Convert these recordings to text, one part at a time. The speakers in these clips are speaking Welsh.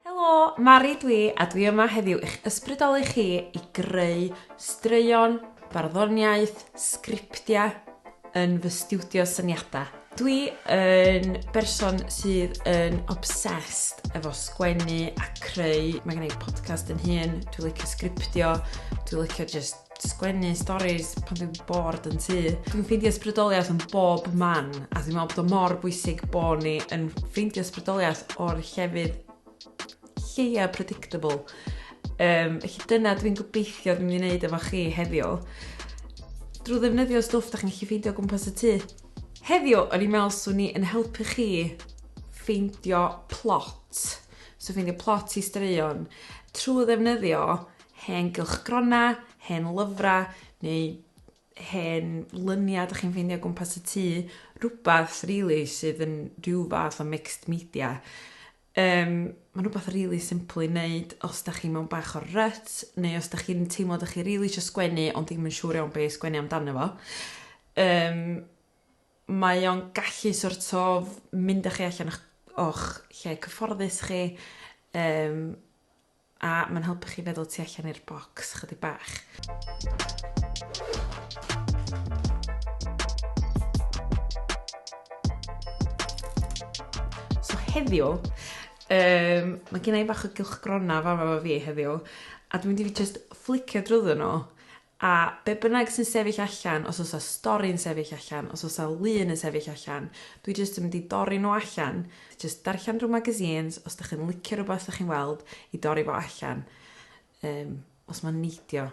Helo, Mari dwi a dwi yma heddiw i'ch ysbrydoli chi i greu straeon, barddoniaeth, sgriptiau yn fy stiwdio syniadau. Dwi yn berson sydd yn obsessed efo sgwennu a creu. Mae gen i podcast yn hun, dwi'n licio sgriptio, dwi'n licio just sgwennu storis pan dwi'n bored yn tŷ. Dwi'n ffeindio ysbrydoliaeth yn bob man a dwi'n meddwl bod o mor bwysig bod ni yn ffeindio ysbrydoliaeth o'r llefydd lleia predictable. Um, felly dyna dwi'n gobeithio dwi'n mynd i wneud efo chi heddiw. Drwy ddefnyddio stwff da chi'n gallu ffeindio gwmpas y tŷ. Heddiw, o'n i'n meddwl swn ni yn helpu chi ffeindio plot. So ffeindio plot i straeon trwy ddefnyddio hen gylchgronau, hen lyfrau neu hen lyniau ydych chi'n ffeindio gwmpas y tŷ, rhywbeth really sydd yn rhyw fath o mixed media. Um, Mae'n rhywbeth really simple i wneud os da chi mewn bach o'r rut, neu os da chi'n teimlo da chi really eisiau sgwennu ond ddim yn siŵr iawn beth sgwennu amdano fo. Um, mae o'n gallu sort of mynd â chi allan o'ch, o'ch lle cyfforddus chi, um, A mae'n helpu chi feddwl tu allan i'r bocs chydig bach. So heddiw, um, mae gen i fach o gylchgrona fama fo fi heddiw, a dwi'n mynd i fi just flicio drwyddo nhw, A be bynnag sy'n sefyll allan, os oes 'na stori'n sefyll allan, os oes 'na lun yn sefyll allan, dwi jyst yn mynd i dorri nhw allan, jyst darllen rhyw magazines, os dach chi'n licio rhywbeth dach chi'n weld, i dorri fo allan, um, os mae'n neidio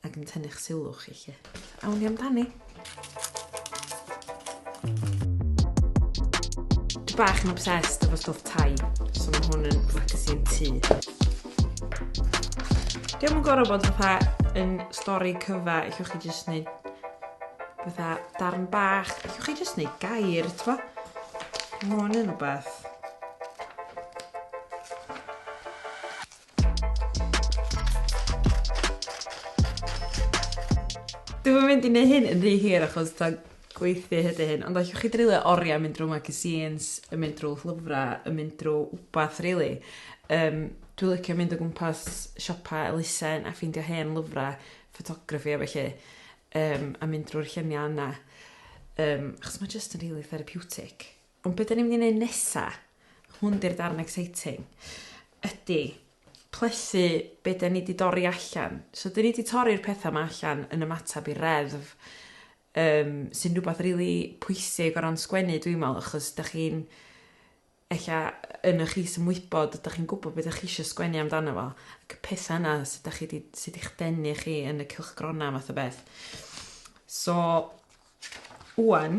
ac yn tynnu'ch sylw chi, lle. Awn ni amdani. bach yn obsessed efo stwff tai, so mae hwn yn ffacasi yn tŷ. Diolch yn gorau bod fatha yn stori cyfa, eich chi jyst wneud fatha darn bach, eich chi jyst wneud gair, twa? Mae hwn yn rhywbeth. Dwi'm yn mynd i neu' hyn yn rhy hir achos t'o' gweithdy ydi hyn ond allwch chi dreulio oria mynd drw magazines yn mynd drw llyfra yn mynd drw wbath rili yym dwi licio mynd o gwmpas siopa elusen a ffeindio hen lyfra ffotograffi a felly yym a mynd drw'r llunia' yna yym achos ma' jyst yn rili therapiwtig. Ond be 'dan ni'n mynd i neud nesa? Hwn 'di'r darn exciting. Ydi plethu be 'dan ni 'di dorri allan. So 'dyn ni 'di torri'r petha 'ma allan yn ymatab i reddf um, sy'n rhywbeth rili really pwysig o ran sgwennu dwi'n meddwl achos da chi'n ella yn y chi sy'n wybod da chi'n gwybod beth da chi eisiau sgwennu amdano fo ac y pethau yna sydd da chi di, sydd i'ch denu chi yn y cylchgronau math o beth so wwan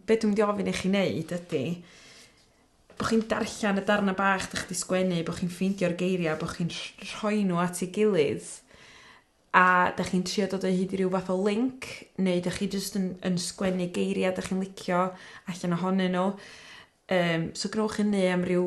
be dwi'n mynd i ofyn i chi neud ydi bo' chi'n darllan y darna bach 'dach chi 'di sgwennu bo' chi'n ffeindio'r geiria' bo' chi'n rh- rhoi n'w at 'i gilydd a 'dach chi'n trio dod o hyd i ryw fath o linc neu 'dach chi jyst yn yn sgwennu geiria' 'dach chi'n licio allan ohonyn n'w yym so gwnewch hynny am ryw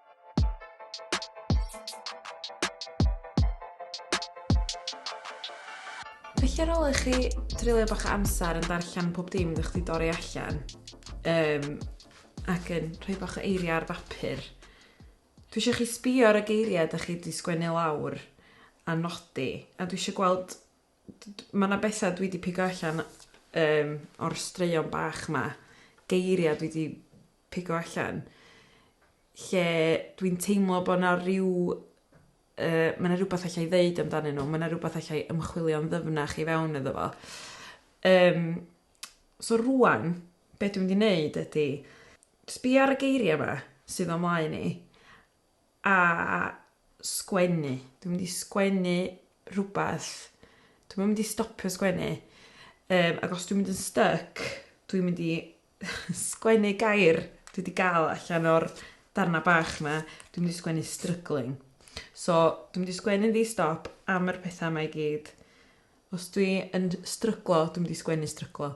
Felly ar ôl i chi treulio bach o amser yn darllen pob dim ydych chi dorri allan um, ac yn rhoi bach o eiriau ar bapur, dwi eisiau chi sbio ar y geiriau ydych chi wedi sgwennu lawr a nodi a dwi eisiau gweld D- d- ma' 'na betha dwi 'di pigo allan yym o'r straeon bach 'ma geiria' dwi 'di pigo allan lle dwi'n teimlo bo' 'na ryw yy ma' 'na rwbath allai ddeud amdanyn n'w ma' 'na rwbath allai ymchwilio'n ddyfnach i fewn iddo fo. Yym so rŵan be' dwi mynd i neud ydi sbïa ar y geiria' 'ma sydd o'm mlaen i a sgwennu. Dwi'n mynd i sgwennu rhywbeth. Dwi'm yn mynd i stopio sgwennu. Um, ac os dwi'n mynd yn stuck, dwi'n mynd i sgwennu gair dwi wedi gael allan o'r darna bach yma. Dwi'n mynd i sgwennu struggling. So, dwi'n mynd i sgwennu ddi stop am yr pethau yma i gyd. Os dwi yn stryglo, dwi'n mynd i sgwennu stryglo.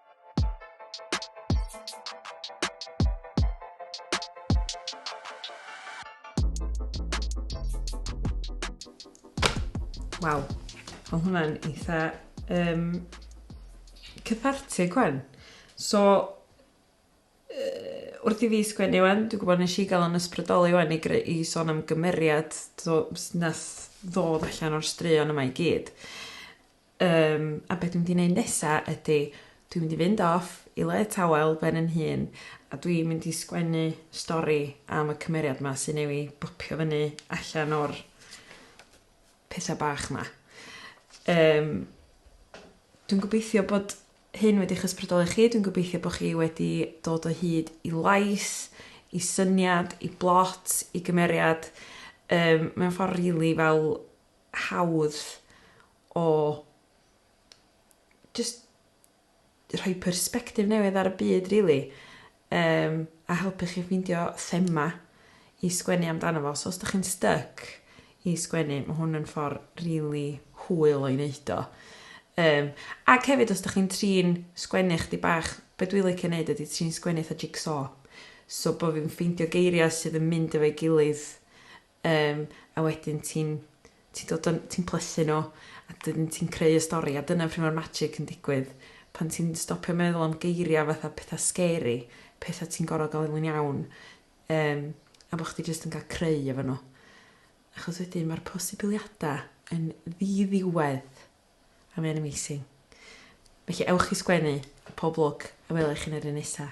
Waw, oedd hwnna'n eitha um, cythartig hwn. So, uh, wrth i fi sgwennu wan, dwi'n gwybod nes i gael yn ysbrydoli wan i, i sôn am gymeriad so, nes ddod allan o'r straeon yma i gyd. Yym, a be' dwi'n mynd i neud nesa ydi dwi'n mynd i fynd off i le tawel ben yn hun a dwi'n mynd i sgwennu stori am y cymeriad 'ma sy newy' bopio fyny allan o'r petha bach 'ma. Yym dwi'n gobeithio bod hyn wedi 'ych ysbrydoli chi dwi'n gobeithio bo' chi wedi dod o hyd i lais i syniad i blot i gymeriad yym mewn ffor rili fel hawdd o jyst rhoi persbectif newydd ar y byd rili yym a helpu chi ffeindio thema i sgwennu amdano fo so os 'dach chi'n styc i sgwennu ma' hwn yn ffor rili hwyl o'i neud o. Yym ac hefyd os 'dach chi'n trin sgwennu chdig bach be' dwi licio neud ydi trin sgwennu 'tha jig-so so bo' fi'n ffeindio geiria' sydd yn mynd efo'i gilydd Yym, a wedyn ti'n, ti'n dod yn, ti'n plethu nhw, a dyn ti'n creu y stori, a dyna pryd mae'r magic yn digwydd. Pan ti'n stopio meddwl am geiriau fatha pethau scary, pethau ti'n gorfod gael yn iawn, um, a bod chdi jyst yn cael creu efo nhw. Achos wedyn mae'r posibiliadau yn ddiddiwedd. a mae'n amazing. Felly ewch i sgwennu a pob lwc a wela i chi'n yr un nesa.